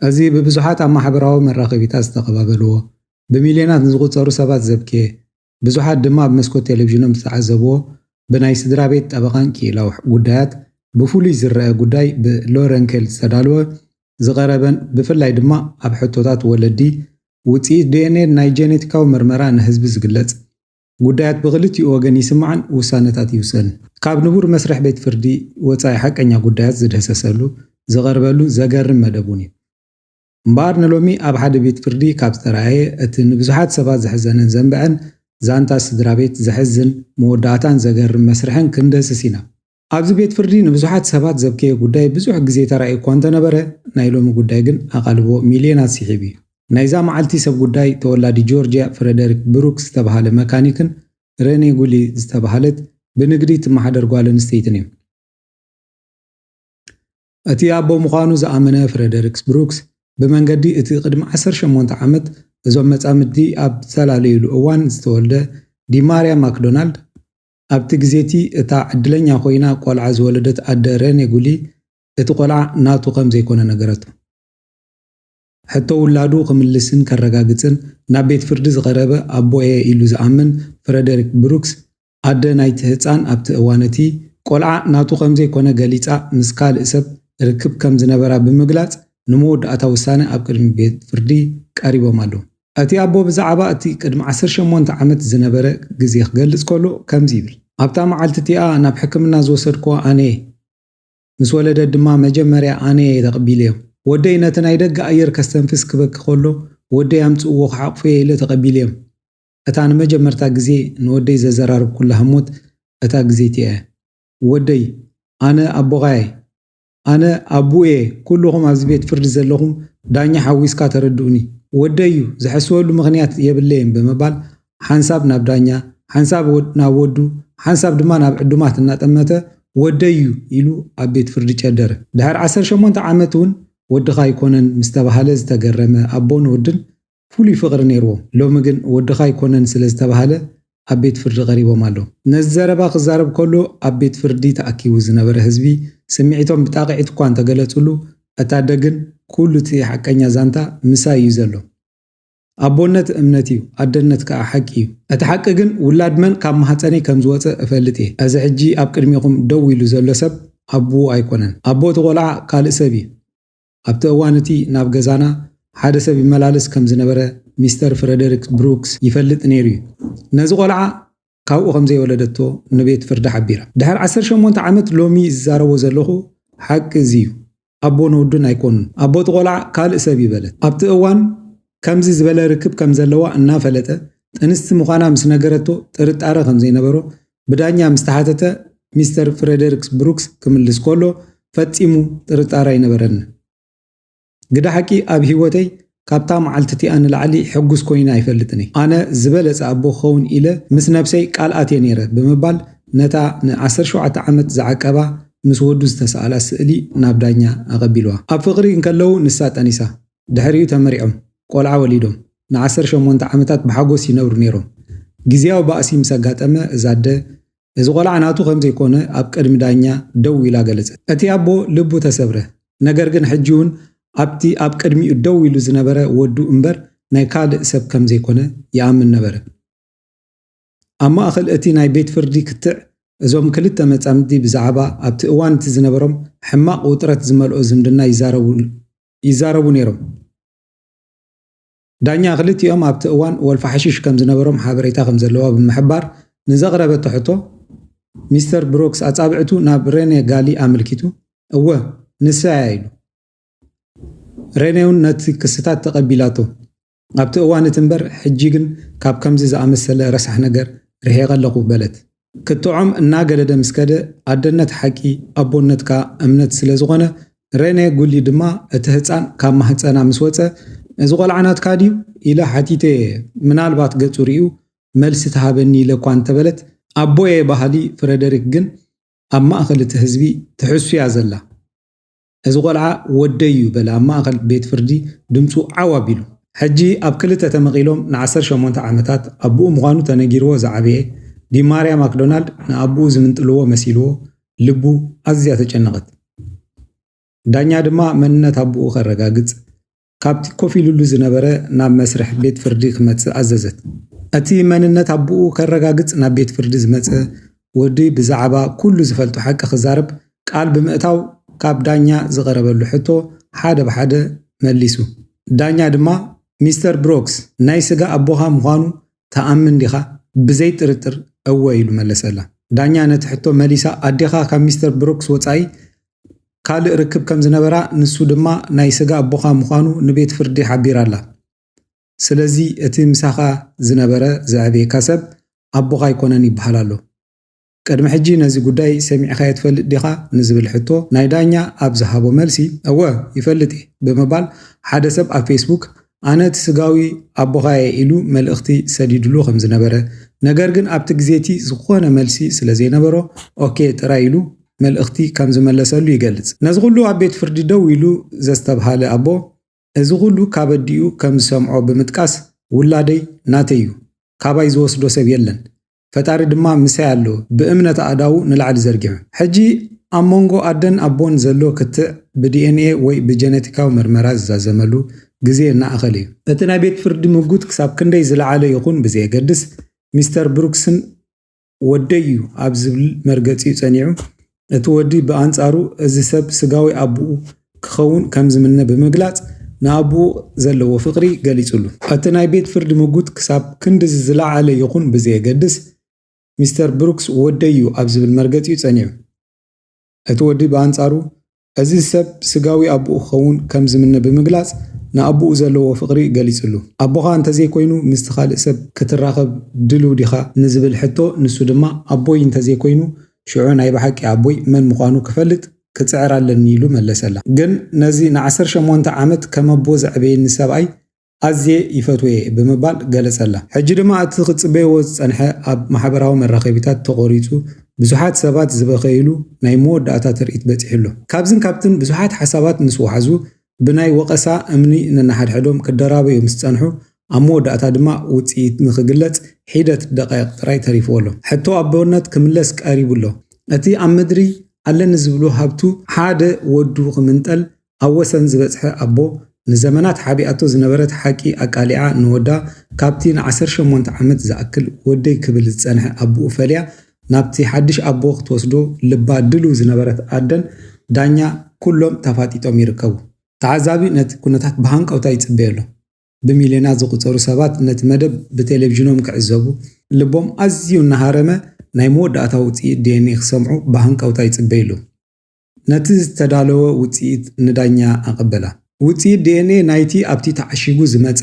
እዚ ብብዙሓት ኣብ ማሕበራዊ መራኸቢታት ዝተቐባበልዎ፣ ብሚልዮናት ንዝቝጸሩ ሰባት ዘብክየ፣ ብዙሓት ድማ ኣብ መስኮት ቴሌቪዥኖም ዝተዓዘብዎ ብናይ ስድራቤት ጠበቓን ክኢላዊ ጉዳያት ብፍሉይ ዝረኣ ጉዳይ ብ ሎረንከል ዝተዳለወ ዝቐረበን ብፍላይ ድማ ኣብ ሕቶታት ወለዲ ውጽኢት ዲኤንኤን ናይ ጄኔቲካዊ ምርመራ ንህዝቢ ዝግለጽ ጉዳያት ብኽልቲኡ ወገን ይስማዕን ውሳነታት ይውሰንን። ካብ ንቡር መስርሕ ቤት ፍርዲ ወጻኢ ሓቀኛ ጉዳያት ዝድህሰሰሉ፣ ዝቐርበሉ፣ ዘገርም መደብ እውን እዩ። እምበኣር ንሎሚ ኣብ ሓደ ቤት ፍርዲ ካብ ዝተራእየ እቲ ንብዙሓት ሰባት ዘሕዘነን ዘንበዐን ዛንታ ስድራ ቤት ዘሕዝን መወዳእታን ዘገርም መስርሕን ክንድህስስ ኢና። ኣብዚ ቤት ፍርዲ ንብዙሓት ሰባት ዘብከየ ጉዳይ ብዙሕ ግዜ ተራእዩ እኳ እንተነበረ ናይ ሎሚ ጉዳይ ግን ኣቓልቦ ሚልዮናት ስሒቡ እዩ። ናይዛ መዓልቲ ሰብ ጉዳይ ተወላዲ ጆርጅያ ፍረደሪክ ብሩክ ዝተበሃለ መካኒክን ረኔ ጉሊ ዝተበሃለት ብንግዲ ትመሓደር ጓል ኣንስተይትን እዮም። እቲ ኣቦ ምዃኑ ዝኣመነ ፍረደሪክስ ብሩክስ፣ ብመንገዲ እቲ ቅድሚ ዓሰርተ ሸሞንተ ዓመት እዞም መጻምድቲ ኣብ ዝተላለዩሉ እዋን ዝተወልደ ዲማርያ ማክዶናልድ፣ ኣብቲ ግዜ'ቲ እታ ዕድለኛ ኰይና ቈልዓ ዝወለደት ኣደ ረኔ ጉሊ፣ እቲ ቈልዓ ናቱ ከም ዘይኰነ ነገረቶ። ሕቶ ውላዱ ክምልስን ከረጋግጽን ናብ ቤት ፍርዲ ዝቐረበ ኣቦ'የ ኢሉ ዝኣምን ፍረደሪክ ብሩክስ፣ ኣደ ናይቲ ህጻን ኣብቲ እዋን እቲ፣ ቆልዓ ናቱ ከም ዘይኮነ ገሊጻ ምስ ካልእ ሰብ ርክብ ከም ዝነበራ ብምግላጽ ንመወዳእታ ውሳነ ኣብ ቅድሚ ቤት ፍርዲ ቀሪቦም ኣለዉ። እቲ ኣቦ ብዛዕባ እቲ ቅድሚ ዓሰርተ ሸሞንተ ዓመት ዝነበረ ግዜ ክገልጽ ከሎ ከምዚ ይብል፣ ኣብታ መዓልቲ እቲኣ ናብ ሕክምና ዝወሰድክዋ ኣነ'የ፣ ምስ ወለደት ድማ መጀመርያ ኣነ'የ ተቐቢለዮም። ወደይ ነቲ ናይ ደገ ኣየር ከስተንፍስ ክበኪ ከሎ ወደይ ኣምጽእዎ ክሓቑፎ'የ ኢለ ተቐቢለዮም። እታ ንመጀመርታ ግዜ ንወደይ ዘዘራረብኩላ ህሞት እታ ግዜ'ቲ እያ። ወደይ፣ ኣነ ኣቦኻ'የ። ኣነ ኣቡኡ'የ፣ ኩሉኹም ኣብዚ ቤት ፍርዲ ዘለኹም ዳኛ ሓዊስካ ተረድኡኒ። ወደይ'ዩ፣ ዝሕስወሉ ምኽንያት የብለይን ብምባል ሓንሳብ ናብ ዳኛ፣ ሓንሳብ ናብ ወዱ፣ ሓንሳብ ድማ ናብ ዕዱማት እናጠመተ ወደይ'ዩ ኢሉ ኣብ ቤት ፍርዲ ጨደረ። ድሕሪ ዓሰርተ ሸሞንተ ዓመት'ውን ወድኻ ኣይኮነን ምስ ተባህለ ዝተገረመ ኣቦን ወድን ፍሉይ ፍቕሪ ነይርዎም። ሎሚ ግን ወድኻ ኣይኮነን ስለ ዝተባህለ ኣብ ቤት ፍርዲ ቀሪቦም ኣለው። ነዚ ዘረባ ክዛረብ ከሎ ኣብ ቤት ፍርዲ ተኣኪቡ ዝነበረ ህዝቢ ስምዒቶም ብጣቕዒት እኳ እንተገለጽሉ እቲ ኣደ ግን ኩሉ እቲ ሓቀኛ ዛንታ ምሳይ እዩ ዘሎ። ኣቦነት እምነት እዩ፣ ኣደነት ከኣ ሓቂ እዩ። እቲ ሓቂ ግን ውላድ መን ካብ ማህጸነይ ከም ዝወጸ እፈልጥ እየ። እዚ ሕጂ ኣብ ቅድሜኹም ደው ኢሉ ዘሎ ሰብ ኣቡኡ ኣይኮነን። ኣቦ እቲ ቆልዓ ካልእ ሰብ እዩ። ኣብቲ እዋን እቲ ናብ ገዛና ሓደ ሰብ ይመላለስ ከም ዝነበረ ሚስተር ፍረደሪክ ብሩክስ ይፈልጥ ነይሩ'ዩ። ነዚ ቈልዓ ካብኡ ከም ዘይወለደቶ ንቤት ፍርዲ ሓቢራ። ድሕሪ ዓሰርተ ሸሞንተ ዓመት ሎሚ ዝዛረቦ ዘለኹ ሓቂ እዚ'ዩ። ኣቦ ንወዱን ኣይኰኑን። ኣቦ እቲ ቈልዓ ካልእ ሰብ'ዩ በለት። ኣብቲ እዋን ከምዚ ዝበለ ርክብ ከም ዘለዋ እናፈለጠ ጥንስቲ ምዃና ምስ ነገረቶ ጥርጣረ ከም ዘይነበሮ ብዳኛ ምስ ተሓተተ ሚስተር ፍረደርክስ ብሩክስ ክምልስ ከሎ ፈጺሙ ጥርጣረ ኣይነበረንን። ግደ ሓቂ ኣብ ህይወተይ ካብታ መዓልቲ እቲኣ ንላዕሊ ሕጉስ ኰይነ ኣይፈልጥን እየ። ኣነ ዝበለጸ ኣቦ ክኸውን ኢለ ምስ ነብሰይ ቃል ኣትየ ነይረ ብምባል ነታ ን ዓሰርተ ሸውዓተ ዓመት ዝዓቀባ ምስ ወዱ ዝተሳእላ ስእሊ ናብ ዳኛ ኣቐቢልዋ። ኣብ ፍቕሪ እንከለዉ ንሳ ጠኒሳ። ድሕሪኡ ተመሪዖም ቆልዓ ወሊዶም ንዓሰርተ ሸሞንተ ዓመታት ብሓጎስ ይነብሩ ነይሮም። ግዝያዊ ባእሲ ምስ ኣጋጠመ እዛ ኣደ እዚ ቆልዓ ናቱ ከም ዘይኮነ ኣብ ቅድሚ ዳኛ ደው ኢላ ገለጸት። እቲ ኣቦ ልቡ ተሰብረ፣ ነገር ግን ሕጂ'ውን ኣብቲ ኣብ ቅድሚኡ ደው ኢሉ ዝነበረ ወዱ እምበር ናይ ካልእ ሰብ ከም ዘይኮነ ይኣምን ነበረ። ኣብ ማእከል እቲ ናይ ቤት ፍርዲ ክትዕ እዞም ክልተ መጻምድቲ ብዛዕባ ኣብቲ እዋን እቲ ዝነበሮም ሕማቕ ውጥረት ዝመልኦ ዝምድና ይዛረቡ ይዛረቡ ነይሮም። ዳኛ ክልቲኦም ኣብቲ እዋን ወልፊ ሓሽሽ ከም ዝነበሮም ሓበሬታ ከም ዘለዋ ብምሕባር ንዘቕረበቶ ሕቶ ሚስተር ብሮክስ ኣጻብዕቱ ናብ ሬኔ ጋሊ ኣመልኪቱ እወ ንሳ እያ ኢሉ። ሬኔ'ውን ነቲ ክስታት ተቐቢላቶ። ኣብቲ እዋን እቲ እምበር፣ ሕጂ ግን ካብ ከምዚ ዝኣመሰለ ረሳሕ ነገር ርሒቐ ኣለኹ በለት። ክትዖም እናገደደ ምስ ከደ፣ ኣደነት ሓቂ፣ ኣቦነት ከኣ እምነት ስለ ዝዀነ፣ ረኔ ጉሊ ድማ እቲ ህጻን ካብ ማህጸና ምስ ወጸ፣ እዚ ቈልዓ ናትካ ድዩ? ኢለ ሓቲተዮ እየ፣ ምናልባት ገጹ ርእዩ መልሲ ትሃበኒ ኢለ እኳ እንተ በለት፣ ኣቦየ በሃሊ ፍረደሪክ ግን ኣብ ማእከል እቲ ህዝቢ ትሕሱ እያ ዘላ። እዚ ቆልዓ ወደይ እዩ በለ ኣብ ማእከል ቤት ፍርዲ ድምጹ ዓው ኣቢሉ። ሕጂ ኣብ ክልተ ተመቒሎም ንዓሰርተ ሸሞንተ ዓመታት ኣቡኡ ምዃኑ ተነጊርዎ ዝዓበየ ዲማርያ ማክዶናልድ ንኣቡኡ ዝምንጥልዎ መሲልዎ ልቡ ኣዝያ ተጨነቐት። ዳኛ ድማ መንነት ኣቡኡ ከረጋግጽ ካብቲ ኮፍ ኢሉሉ ዝነበረ ናብ መስርሕ ቤት ፍርዲ ክመጽእ ኣዘዘት። እቲ መንነት ኣቦኡ ከረጋግጽ ናብ ቤት ፍርዲ ዝመጸ ወዲ ብዛዕባ ኩሉ ዝፈልጦ ሓቂ ክዛረብ ቃል ብምእታው ካብ ዳኛ ዝቐረበሉ ሕቶ ሓደ ብሓደ መሊሱ። ዳኛ ድማ ሚስተር ብሮክስ ናይ ስጋ ኣቦኻ ምዃኑ ትኣምን ዲኻ? ብዘይ ጥርጥር እወ ኢሉ መለሰላ። ዳኛ ነቲ ሕቶ መሊሳ ኣዴኻ ካብ ሚስተር ብሩክስ ወጻኢ ካልእ ርክብ ከም ዝነበራ ንሱ ድማ ናይ ስጋ ኣቦኻ ምዃኑ ንቤት ፍርዲ ሓቢራ ኣላ። ስለዚ እቲ ምሳኻ ዝነበረ ዘዕበየካ ሰብ ኣቦኻ ኣይኮነን ይበሃል ኣሎ። ቅድሚ ሕጂ ነዚ ጉዳይ ሰሚዕካዮ ትፈልጥ ዲኻ ንዝብል ሕቶ ናይ ዳኛ ኣብ ዝሃቦ መልሲ እወ ይፈልጥ እየ ብምባል ሓደ ሰብ ኣብ ፌስቡክ ኣነ እቲ ስጋዊ ኣቦኻ እየ ኢሉ መልእኽቲ ሰዲድሉ ከምዝነበረ ነገር ግን ኣብቲ ግዜቲ ዝኾነ መልሲ ስለዘይነበሮ ኦኬ ጥራይ ኢሉ መልእኽቲ ከምዝመለሰሉ ይገልጽ። ነዚ ኩሉ ኣብ ቤት ፍርዲ ደው ኢሉ ዘስተብሃለ ኣቦ እዚ ኩሉ ካብ ኣዲኡ ከምዝሰምዖ ብምጥቃስ ውላደይ ናተይ እዩ ካባይ ዝወስዶ ሰብ የለን ፈጣሪ ድማ ምሳይ ኣሎ ብእምነት ኣእዳዉ ንላዕሊ ዘርጊሑ። ሕጂ ኣብ መንጎ ኣደን ኣቦን ዘሎ ክትዕ ብዲኤንኤ ወይ ብጀነቲካዊ ምርመራ ዝዛዘመሉ ግዜ እናኣኸለ እዩ። እቲ ናይ ቤት ፍርዲ ምጉት ክሳብ ክንደይ ዝለዓለ ይኹን ብዘየገድስ፣ ሚስተር ብሩክስን ወደይ'ዩ ኣብ ዝብል መርገጺኡ ጸኒዑ እቲ ወዲ ብኣንጻሩ እዚ ሰብ ስጋዊ ኣቦኡ ክኸውን ከም ዝምነ ብምግላጽ ንኣቦኡ ዘለዎ ፍቕሪ ገሊጽሉ። እቲ ናይ ቤት ፍርዲ ምጉት ክሳብ ክንድዚ ዝለዓለ ይኹን ብዘየገድስ፣ ሚስተር ብሩክስ ወደይ'ዩ ኣብ ዝብል መርገጺ'ዩ ጸኒዑ። እቲ ወዲ ብኣንጻሩ እዚ ሰብ ስጋዊ ኣቦኡ ክኸውን ከም ዝምነ ብምግላጽ ንኣቦኡ ዘለዎ ፍቕሪ ገሊጽሉ። ኣቦኻ እንተዘይኮይኑ ምስቲ ካልእ ሰብ ክትራኸብ ድሉው ዲኻ ንዝብል ሕቶ ንሱ ድማ ኣቦይ እንተዘይኮይኑ ሽዑ ናይ ብሓቂ ኣቦይ መን ምዃኑ ክፈልጥ ክጽዕር ኣለኒ ኢሉ መለሰላ። ግን ነዚ ንዓሰርተ ሸሞንተ ዓመት ከም ኣቦ ዘዕበየኒ ሰብኣይ ኣዝየ ይፈትዎ'የ ብምባል ገለጸላ። ሕጂ ድማ እቲ ክትጽበይዎ ዝጸንሐ ኣብ ማሕበራዊ መራኸቢታት ተቖሪጹ ብዙሓት ሰባት ዝበኸይሉ ናይ መወዳእታ ትርኢት በጺሑ ኣሎ። ካብዝን ካብትን ብዙሓት ሓሳባት ምስ ወሓዙ ብናይ ወቐሳ እምኒ ነንሓድሕዶም ክደራበዩ ምስ ጸንሑ፣ ኣብ መወዳእታ ድማ ውጽኢት ንኽግለጽ ሒደት ደቓይቕ ጥራይ ተሪፍዎ ኣሎ። ሕቶ ኣቦነት ክምለስ ቀሪቡ ኣሎ። እቲ ኣብ ምድሪ ኣለኒ ዝብሎ ሃብቱ ሓደ ወዱ ክምንጠል ኣብ ወሰን ዝበጽሐ ኣቦ፣ ንዘመናት ሓቢኣቶ ዝነበረት ሓቂ ኣቃሊዓ ንወዳ ካብቲ ንዓሰርተ ሸሞንተ ዓመት ዝኣክል ወደይ ክብል ዝጸንሐ ኣቡኡ ፈልያ ናብቲ ሓድሽ ኣቦ ክትወስዶ ልባ ድልው ዝነበረት ኣደን ዳኛ ኩሎም ተፋጢጦም ይርከቡ። ተዓዛቢ ነቲ ኩነታት ብሃንቀውታ ይጽበዮ ኣሎ። ብሚልዮናት ዝቑጸሩ ሰባት ነቲ መደብ ብቴሌቪዥኖም ክዕዘቡ፣ ልቦም ኣዝዩ እናሃረመ ናይ መወዳእታ ውጽኢት ዲኤንኤ ክሰምዑ ብሃንቀውታ ይጽበዩ ኣለዉ። ነቲ ዝተዳለወ ውጽኢት ንዳኛ ኣቐበላ። ውጽኢት ዲኤንኤ ናይቲ ኣብቲ ተዓሺጉ ዝመጸ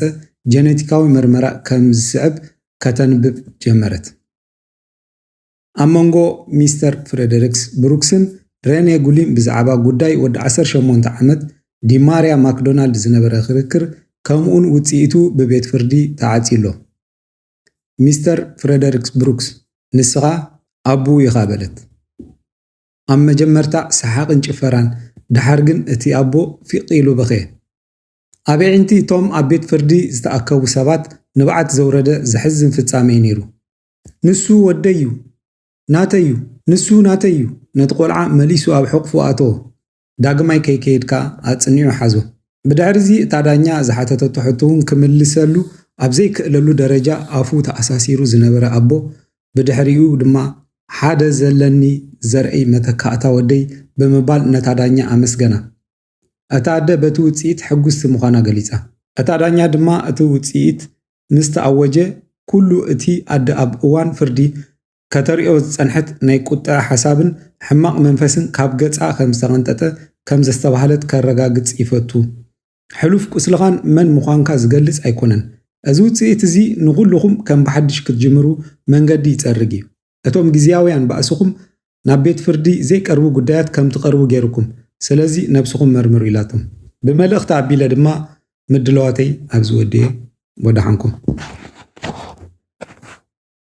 ጀነቲካዊ መርመራ ከም ዝስዕብ ከተንብብ ጀመረት። ኣብ መንጎ ሚስተር ፍረደሪክስ ብሩክስን ረኔ ጉሊን ብዛዕባ ጉዳይ ወዲ ዓሰርተ ሸሞንተ ዓመት ዲማርያ ማክዶናልድ ዝነበረ ክርክር ከምኡውን ውጽኢቱ ብቤት ፍርዲ ተዓጽዩ ኣሎ። ሚስተር ፍረደሪክስ ብሩክስ፣ ንስኻ ኣቦኡ ኢኻ በለት። ኣብ መጀመርታ ሰሓቕን ጭፈራን፣ ደሓር ግን እቲ ኣቦ ፊቕ ኢሉ በኽየ። ኣብ ኣዒንቲ እቶም ኣብ ቤት ፍርዲ ዝተኣከቡ ሰባት ንብዓት ዘውረደ ዘሕዝን ፍጻመ እዩ ነይሩ። ንሱ ወደይ ዩ ናተይ ዩ ንሱ ናተይ ዩ ነቲ ቆልዓ መሊሱ ኣብ ሕቑፉ ኣተዎ ዳግማይ ከይከይድካ ኣጽኒዑ ሓዞ ብድሕሪዚ እታ ዳኛ ዝሓተተቶ ሕቶ ውን ክምልሰሉ ኣብ ዘይክእለሉ ደረጃ ኣፉ ተኣሳሲሩ ዝነበረ ኣቦ ብድሕሪኡ ድማ ሓደ ዘለኒ ዘርእይ መተካእታ ወደይ ብምባል ነታ ዳኛ ኣመስገና። እታ ኣደ በቲ ውጽኢት ሕጕስቲ ምዃና ገሊጻ። እታ ዳኛ ድማ እቲ ውጽኢት ምስ ተኣወጀ ኵሉ እቲ ኣደ ኣብ እዋን ፍርዲ ከተርእዮ ዝጸንሐት ናይ ቍጥዐ ሓሳብን ሕማቕ መንፈስን ካብ ገጻ ኸም ዝተቐንጠጠ ከም ዘስተብሃለት ከረጋግጽ ይፈቱ። ሕሉፍ ቍስልኻን መን ምዃንካ ዝገልጽ ኣይኰነን። እዚ ውጽኢት እዚ ንዅልኹም ከም ብሓድሽ ክትጅምሩ መንገዲ ይጸርግ ኢዩ። እቶም ግዝያውያን ባእስኹም ናብ ቤት ፍርዲ ዘይቀርቡ ጉዳያት ከም ትቐርቡ ገይሩኩም፣ ስለዚ ነብስኹም መርምሩ ኢላቶም። ብመልእኽቲ ኣቢለ ድማ ምድላዋተይ ኣብዚ ወዲኤ። ወደሓንኩም።